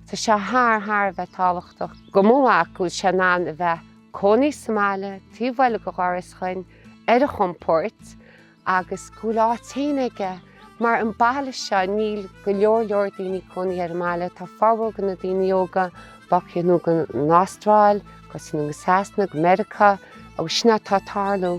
Tá sé thar, thar a bheith tábhachtach do mo mhac go bhfuil sé in ann a bheith cónaí sa mbaile, taobh bhaile go dhoras chuin, ar a chompóirt agus go bhfuil áit féin aige. Mar an baile seo níl go leor leor daoine cónaí ar an mbaile, tá formhór go na daoine óga bogadh anonn go an Astráil, agus anonn go Sasana, go Meiriceá agus sin é atá tarlú.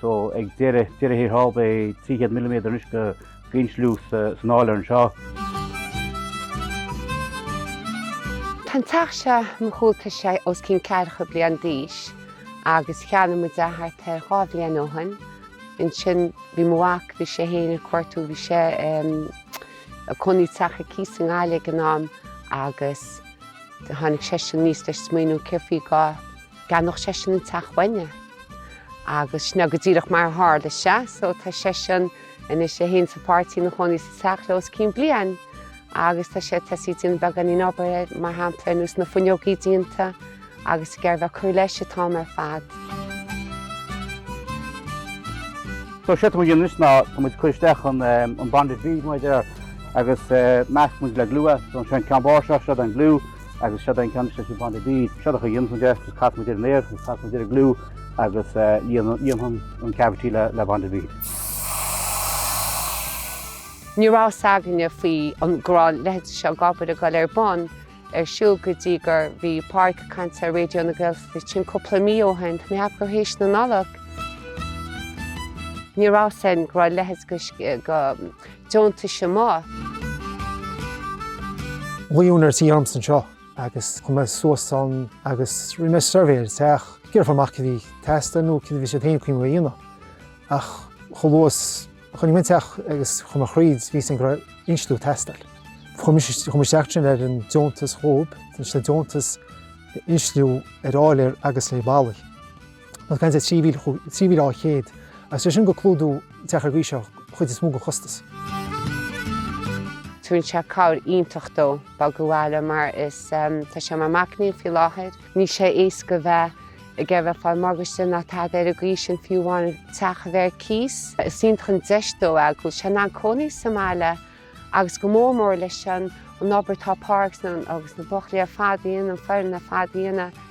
so ag deireadh thiar thall beidh 300 milliméadar anois d'insliú san áiléar anseo. Tá an teach seo ar mo chúl tá sé os cionn ceathracha bliain d'aois agus cheannaigh muid é thart ar dhá bhliain ó shoin. Ansin bhí mo mhac, bhí sé fhéin ag cuartú, bhí sé ag cónaí i teach ar cíos i nGaillimh ag an am agus tháinig seisean aníos leis an smaoineamh céard faoi dhá gceannódh seisean an teach uainne agus sin é go díreach mar a tharla sé so tá seisean anois é fhéin is a pháirtí ina chónaí sa teach le os cionn bliain agus tá sé tá sí ag déanamh beagáinín obair air mar shampla ar nós na fuinneogaí déanta agus ag iarraidh bheith cur leis an t-am ar fad. So séard atá muid a dhéanamh ná tá muid cur isteach an bonded bead mar a deir agus meascann muid le glue so seo an ceann bán seo seod an glue. agus seoda an ceann seo bonded bead, séard a dhéanfaimid agus casfaimid air an aer agus casfaimid air an glue agus líonfaimid an cavity le bonded bead. Ní raibh fhios againne faoi go raibh a leithéid seo d'obair, ag dul ar bun, ar siúl go dtí gur bhí Páraic ag caint ar Raidio na Gaeltachta sin cúpla mí ó shin, tá mé cheapadh gur th'éis na Nollag. Ní raibh fhios againn go raibh a leithéid go. deontais amach. Ghlaoigh úinéir an tí ormsa anseo agus chuaigh mé suas ann agus rinne mé suirbhé ar an teach. Ag iarraidh fáil amach céard a bhí ag teastáil nó céard a bhí siad féin cuimhneamh a dhéanamh. Ach chomh luath is a chonaic mé an teach agus chuaigh mé thríd, bhí 's agam go raibh insliú ag teastáil. Chuir mé isteach ansin ar an deontas dhóib, tá sé deontas insliú ar áiléar agus ar bhallaí. Now faigheann sé 3,200 agus tá sé sin ag clúdú teach ar an gcaoi seo an chuid is mó den chostas. Tugann sé cabhair iontach dó bogadh abhaile mar is tá sé mar mhaicnín faoi láthair. Níl sé éasca bheith ag iarraidh fáil morgáiste ná tada ar an gcaoi sin nó fiú amháin teach a bheith ar cíos. Is iontach an deis dó é go bhfuil sé in ann cónaí sa mbaile agus go mór mór leis an an obair atá Páraic ansin agus na buachaillí ar fad a dhéanamh an fhoireann ar fad a dhéanamh.